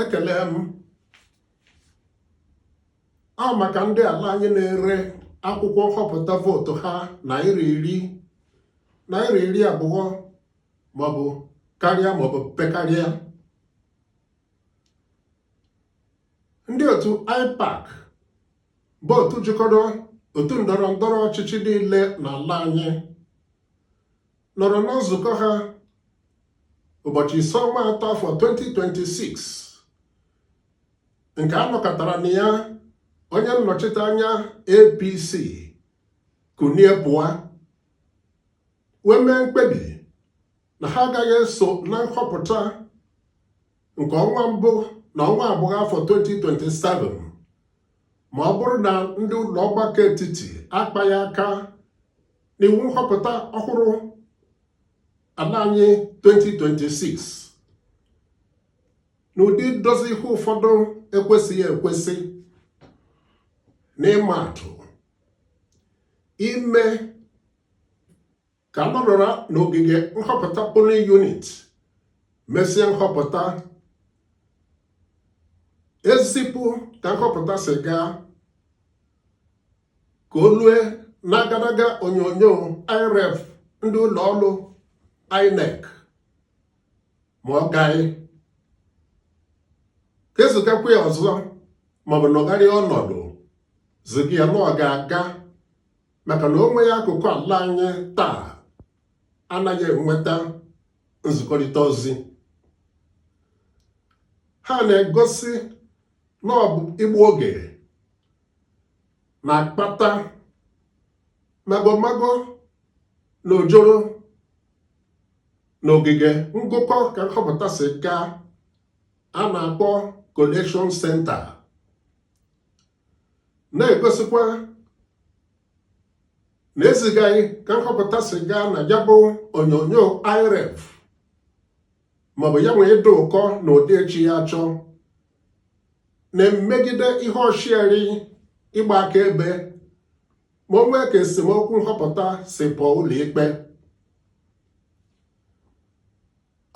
ekele m ọ maka ndị ala anyị na-ere akwụkwọ nhọpụta vootu ha naira iri naira iri abụọ maọbụ karịa maọbụ pekarịa ndị otu IPAC bụ otu jikọrọ otu ndọrọ ndọrọ ọchịchị niile n'ala anyị nọrọ na nzukọ ha ụbọchị ise ọnwa atọ afọ 2026 nke a nọkatara na ya onye nnọchite anya APC kunie pụọ wee mee mkpebi na ha agaghị eso na nhọpụta nke ọnwa mbụ na ọnwa abụọ afọ 2027 ma ọ bụrụ na ndị ụlọ ọgbakọ etiti akpaghị aka na iwu nhọpụta ọhụrụ ala anyị 2026 n'ụdị idozi ihe ụfọdụ ekwesịghị ekwesị n'ịma atụ ime ka a nọrọ n'ogige nhọpụta polling unit mesịa nhọpụta e zipụ ka nhọpụta si gaa ka o lue n'agadaga onyonyo IReV ndị ụlọ ọrụ INEC ma ọ gaghị ka e zigakwa ya ọzọ maọbụ nọgharịa ọnọdụ ziga ya na ọ ga-aga maka na o nweghị akụkụ ala anyị taa anaghị enweta nzikọrịta ozi ha na-egosi na ọ bụ igbu oge na-akpata magomago na ojoro na ogige ngụkọ ka nhọpụta si gaa a na-akpọ collection center na-egosikwa na ezigaghị ka nhọpụta si gaa na ya bụ onyonyo IReV maọbụ ya nwee ịdị ụkọ na ụdị echi ya chọọ na-emegide ihe osiari ịgba akaebe ma o nwee ka esemokwu nhọpụta si pụọ ụlọikpe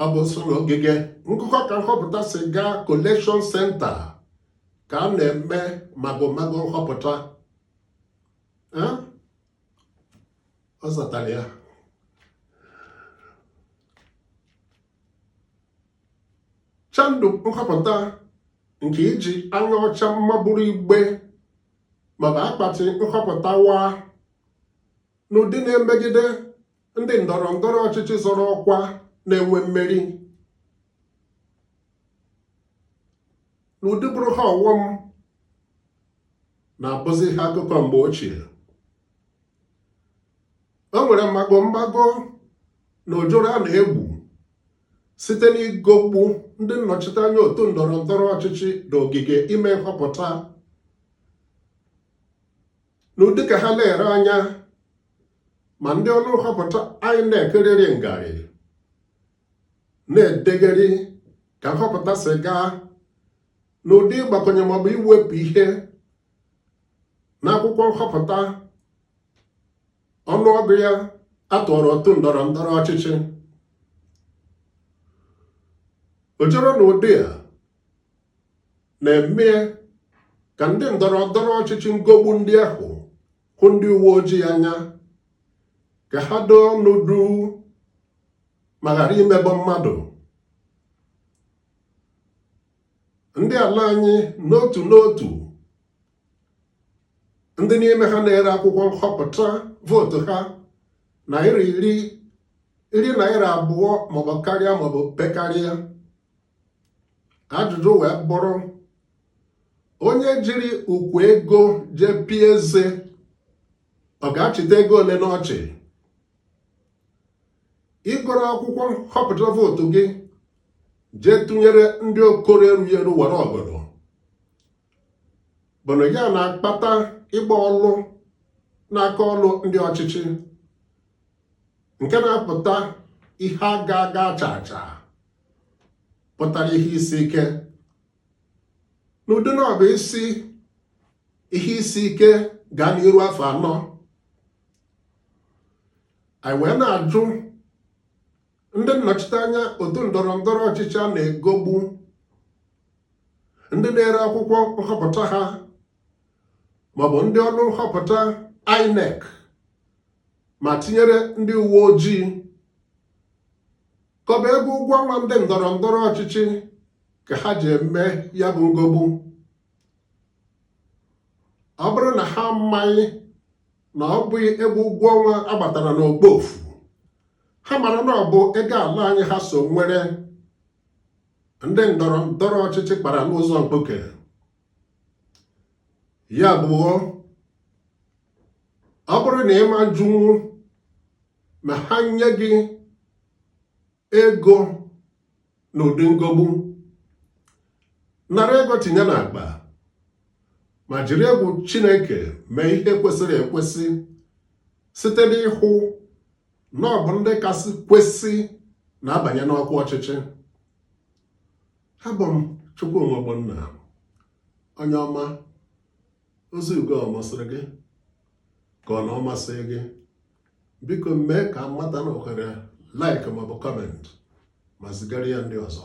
ọ bụ nso na ogige ngụkọ ka nhọpụta si gaa collection center ka a na-eme magomago nhọpụta ọ zatara ya chandụ nhọpụta nke iji anya ọcha ma buru igbe maọbụ akpati nhọpụta waa n'ụdị na-emegide ndị ndọrọ ndọrọ ọchịchị zọrọ ọkwa na-enwe mmeri n'ụdị bụrụ ha ọghọm na-abụzi ihe akụkọ mgbe ochie o nwere mago mago na ojoro a na-egwu site n'igogbu ndị nnọchiteanya otu ndọrọ ndọrọ ọchịchị na ogige ime nhọpụta n'ụdị ka ha na-ele anya ma ndị ọrụ nhọpụta INEC riri ngarị na-edegharị ka nhọpụta si gaa n'ụdị ịgbakwụnye maọbụ iwepụ ihe n'akwụkwọ nhọpụta ọnụọgụ ya a tụọrọ otu ndọrọ ndọrọ ọchịchị ojoro n'ụdị a na-eme ka ndị ndọrọ ndọrọ ọchịchị ngogbu ndị ahụ hụ ndị uwe ojii anya ka ha doo ọnụ duu ma ghara imebọ mmadụ ndị ala anyị n'otu n'otu ndị n'ime ha na-ere akwụkwọ nhọpụta vootu ha naira iri iri naira abụọ maọbụ karịa maọbụ pekarịa ajụjụ wee bụrụ onye jiri ukwu ego jee pie eze ọ ga-achịta ego ole n'ọchị iburu akwụkwọ nhọpụta vootu gị jee tụnyere ndị okoro erughị eru wara ọgọdọ bụnụ ya na-akpata ịgba ọlụ n'aka ọlụ ndị ọchịchị nke na-apụta ihe aga aga acha acha pụtara ihe isi ike n'ụdị na ọ bụzi ihe isi ike gaa n'iru afọ anọ anyị wee na-ajụ ndị nnọchiteanya otu ndọrọ ndọrọ ọchịchị a na-egogbu ndị na-ere akwụkwọ nhọpụta ha maọbụ ndị ọrụ nhọpụta INEC ma tinyere ndị uwe ojii ka ọ bụ ego ụgwọ ọnwa ndị ndọrọ ndọrọ ọchịchị ka ha ji eme ya bụ ngogbu ọ bụrụ na ha amaghị na ọ bụghị ego ụgwọ ọnwa agbatara n'okpoofu ha mara na ọ bụ ego ala anyị ha so nwere ndị ndọrọ ndọrọ ọchịchị kpara n'ụzọ mkpuke ya bụ ọ bụrụ na ị ma ajụnwu ma ha nye gị ego na ụdị nghọgbu nara ego tinye n'akpa ma jiri egwu Chineke mee ihe kwesịrị ekwesị site n'ịhụ na ọ bụ ndị kasị kwesị na-abanye n'ọkwa ọchịchị abụ m Chukwuma Ogbonna onye ọma ozi ugo ọ masịrị gị ka ọ na ọ masịghị gị biko mee ka m mata na ohere like maọbụ comment ma zigara ya ndị ọzọ